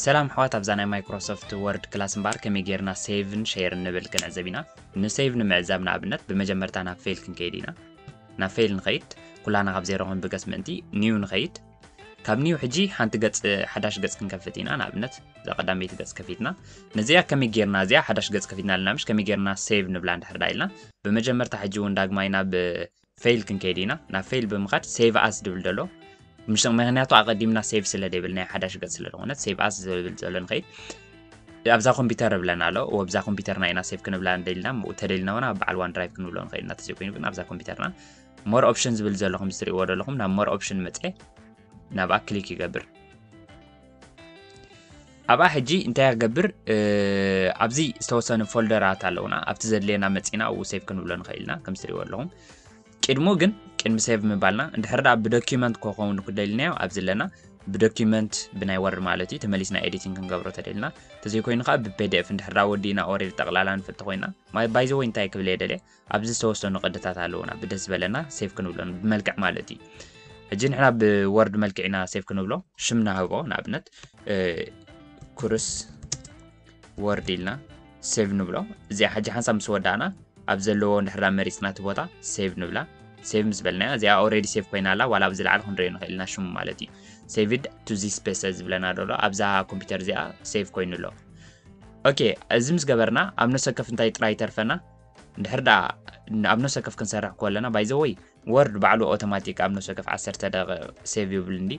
ሰላም ኣሕዋት ኣብዛ ናይ ማይክሮሶፍት ወርድ ክላስ እምበኣር ከመይ ጌርና ሴቭን ሼርን ንብል ክንዕዘብ ኢና ንሴቭ ንምዕዛብ ንኣብነት ብመጀመርታ ናብ ፌል ክንከይድ ኢና ናብ ፌል ንኸይድ ኩላና ካብ ዜሮ ክንብገስ ምእንቲ ኒው ንኸይድ ካብ ኒው ሕጂ ሓንቲ ገጽ ሓዳሽ ገጽ ክንከፍት ኢና ንኣብነት እዛ ቀዳመይቲ ገጽ ከፊትና ነዚኣ ከመይ ጌርና እዚኣ ሓዳሽ ገጽ ከፊትና ኣለና ምሽ ከመይ ጌርና ሴቭ ንብላ እንድሕር ዳ ኢልና ብመጀመርታ ሕጂ እውን ዳግማይ ናብ ፌይል ክንከይድ ኢና ናብ ፌይል ብምኻድ ሴቭ ኣስ ዝብል ደሎ ምሽ ምክንያቱ ኣቐዲምና ሴቭ ስለ ደይብል ናይ ሓዳሽ ገጽ ስለ ዝኾነት ሴቭ ኣስ ዝብል ዘሎ ንኸይድ ኣብዛ ኮምፒውተር ብለና ኣሎ ወብዛ ኮምፒውተርና ኢና ሴቭ ክንብላ እንደልና ተደልና ውን ኣብ በዓል ዋን ድራይቭ ክንብሎ ንኽእል ኢና ተዘይኮይኑ ግን ኣብዛ ኮምፒውተርና ሞር ኦፕሽን ዝብል ዘሎ ከምዚ ትሪእዎ ዘለኹም ናብ ሞር ኦፕሽን መፀ ናብኣ ክሊክ ይገብር ኣብኣ ሕጂ እንታይ ክገብር ኣብዚ ዝተወሰኑ ፎልደራት ኣለውና ኣብቲ ዘድልየና መፂና ኣብኡ ሴቭ ክንብሎ ንኽእል ኢና ከምዚ ትሪእዎ ኣለኹም ቅድሙ ግን ቅድሚ ሴቭ ምባልና እንድሕር ዳ ብዶኪመንት ከኸውን ክደልናዮ ኣብዚ ኣለና ብዶኪመንት ብናይ ወርድ ማለት እዩ ተመሊስና ኤዲቲንግ ክንገብሮ ተደልና ተዘይኮይኑ ከዓ ብፔድኤፍ እንድሕር ዳ ወዲእና ኦሬድ ጠቕላላ ንፍቲ ኮይና ባይዘወይ እንታይ ክብል የደልየ ኣብዚ ዝተወሰኑ ቅድታት ኣለዉና ብደስ ዝበለና ሴቭ ክንብሎ ብመልክዕ ማለት እዩ ሕጂ ንሕና ብወርድ መልክዕ ኢና ሴቭ ክንብሎ ሽም ናህቦ ንኣብነት ኩርስ ወርድ ኢልና ሴቭ ንብሎ እዚኣ ሕጂ ሓንሳብ ምስ ወዳእና ኣብ ዘለዎ ንድሕራ መሪፅና እቲ ቦታ ሴቭ ንብላ ሴቭ ምስ በልናያ እዚኣ ኦረዲ ሴቭ ኮይና ኣላ ዋላ ኣብዚ ላዕሊ ክንሪኦ ንኽእል ኢና ሽሙ ማለት እዩ ሴቭድ ቱ ዚስ ፔሰ ዝብለና ደሎ ኣብዛ ኮምፒውተር እዚኣ ሴቭ ኮይኑ ኣሎ ኦኬ እዚ ምስ ገበርና ኣብ ነሰከፍ እንታይ ጥራይ ተርፈና እንድሕር ደኣ ኣብ ነፍሲ ወከፍ ክንሰርሕ ከለና ባይ ዘ ወይ ወርድ ባዕሉ ኦቶማቲክ ኣብ ነፍሲ ወከፍ ዓሰርተ ደቂቕ ሴቭ ይብል እንዲ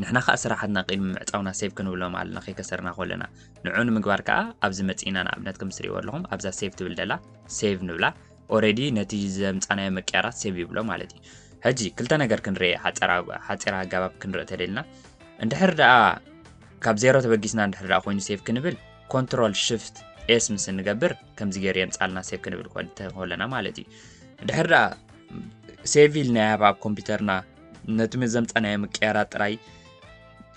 ንሕና ከዓ ስራሓትና ቅድሚ ምዕፃውና ሴቭ ክንብሎም ኣለና ከይከሰርና ከለና ንዑ ንምግባር ከዓ ኣብዚ መፂእና ንኣብነት ከም ትሪእዎ ኣለኹም ኣብዛ ሴቭ ትብል ደላ ሴቭ ንብላ ኦረዲ ነቲ ዘምፃናዮ መቅያራት ሴቭ ይብሎ ማለት እዩ ሕጂ ክልተ ነገር ክንርኢ ሓፂራ ኣገባብ ክንርኢ ተደልና እንድሕር ደኣ ካብ ዜሮ ተበጊስና እንድሕር ደኣ ኮይኑ ሴቭ ክንብል ኮንትሮል ሽፍት ኤስ ምስ እንገብር ከምዚ ገይሩ የምፃልና ሴቭ ክንብል ኮለና ማለት እዩ ድሕር ደኣ ሴቭ ኢልና ያሃብ ኣብ ኮምፒውተርና ነቲ መዘምፀናዮ ምቅያራ ጥራይ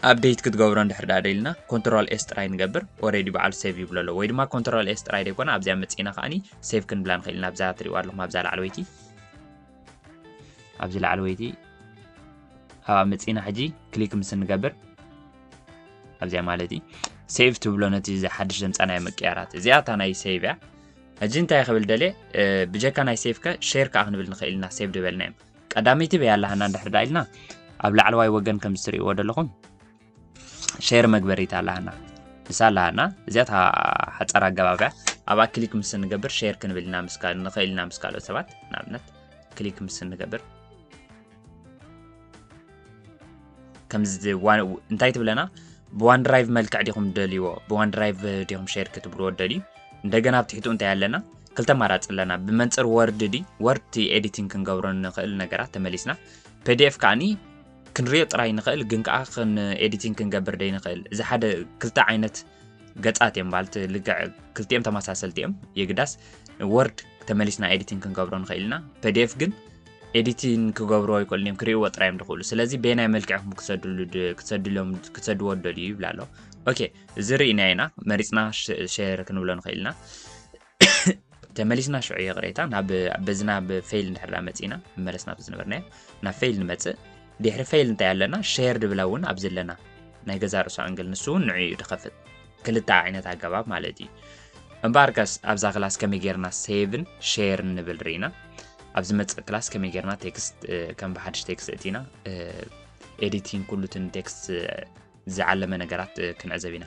ኣብደይት ክትገብሮ ንድሕር ደኣ ደልና ኮንትሮል ኤስ ጥራይ ንገብር ኦረዲ በዓሉ ሴቭ ይብሎ ኣሎ ወይ ድማ ኮንትሮል ኤስ ጥራይ ደይኮነ ኣብዚኣ መፅና ከዓኒ ሴቭ ክንብላ ንኽእል ኢና ኣብዛ ትሪእዋ ኣለኹም ኣብዛ ላዕለወይቲ ኣብዚ ላዕለወይቲ ኣብኣ መፅና ሕጂ ክሊክ ምስ ንገብር ኣብዚኣ ማለት እዩ ሴቭ ትብሎ ነቲ እዚ ሓድሽ ዘምፃናዮ ምቅያራት እዚኣ እታ ናይ ሴቭ እያ ሕጂ እንታይ ክብል ደልየ ብጀካ ናይ ሴቭ ከ ሼር ከዓ ክንብል ንኽእል ኢና ሴቭ ድበልና እዮም ቀዳመይቲ በይ ኣላሃና እንድሕር ዳ ኢልና ኣብ ላዕለዋይ ወገን ከም ዝትርእይዎ ዘለኹም ሼር መግበሪት ኣላሃና ንሳ ኣላሃና እዚኣ እታ ሓፃር ኣገባብያ ኣብኣ ክሊክ ምስ እንገብር ሼር ክንብል ኢና ንኽእል ኢና ምስ ካልኦት ሰባት ንኣብነት ክሊክ ምስ እንገብር ከምዚ እንታይ ትብለና ብዋን ድራይቭ መልክዕ ዲኹም ደልይዎ ብዋን ድራይቭ ዲኹም ሸር ክትብልዎ ደልዩ እንደገና ኣብ ትሕትኡ እንታይ ኣለና ክልተ ኣማራፂ ኣለና ብመንፅር ወርድ ዲ ወርድ ኤዲቲንግ ክንገብሮ ንኽእል ነገራት ተመሊስና ፒዲኤፍ ከዓኒ ክንሪኦ ጥራይ ንኽእል ግን ከዓ ኤዲቲንግ ክንገብር ደይ ንኽእል እዚ ሓደ ክልተ ዓይነት ገፃት እዮም ማለት ልግዕ ክልቲኦም ተመሳሰልቲ እዮም የግዳስ ወርድ ተመሊስና ኤዲቲንግ ክንገብሮ ንኽእል ኢና ፒዲኤፍ ግን ኤዲቲን ክገብርዎ ኣይክእሉን እዮም ክርእይዎ ጥራይ እዮም ዝኽእሉ ስለዚ በየናይ መልክዕ ኢኹም ክሰድሉ ድ- ክሰድሎም ክሰድዎ ደልዩ ይብላ ኣሎ ኦኬ እዚ ርኢና ኢና መሪፅና ሸ- ሸር ክንብሎ ንኽእል ኢና ተመሊስና ሽዑ ይቕሬታ ናብ በዚ ናብ ፌይል እንድሕርዳ መፂና መለስ ናብ ዝነበርናዮ ናብ ፌይል ንመፅእ ድሕሪ ፌይል እንታይ ኣለና ሸር ድብላ እውን ኣብዚ ኣለና ናይ ገዛ ርእሱ ኣንግል ንሱ እውን ንዑ እዩ ድኸፍት ክልተ ዓይነት ኣገባብ ማለት እዩ እምበኣርከስ ኣብዛ ክላስ ከመይ ጌርና ሴቭን ሼርን ንብል ርኢና ኣብ ዝመፅእ ክላስ ከመይ ጌርና ቴክስት ከም ብሓድሽ ቴክስት እቲና ኤዲቲንግ ኩሉትን ቴክስት ዝዓለመ ነገራት ክንዕዘብ ኢና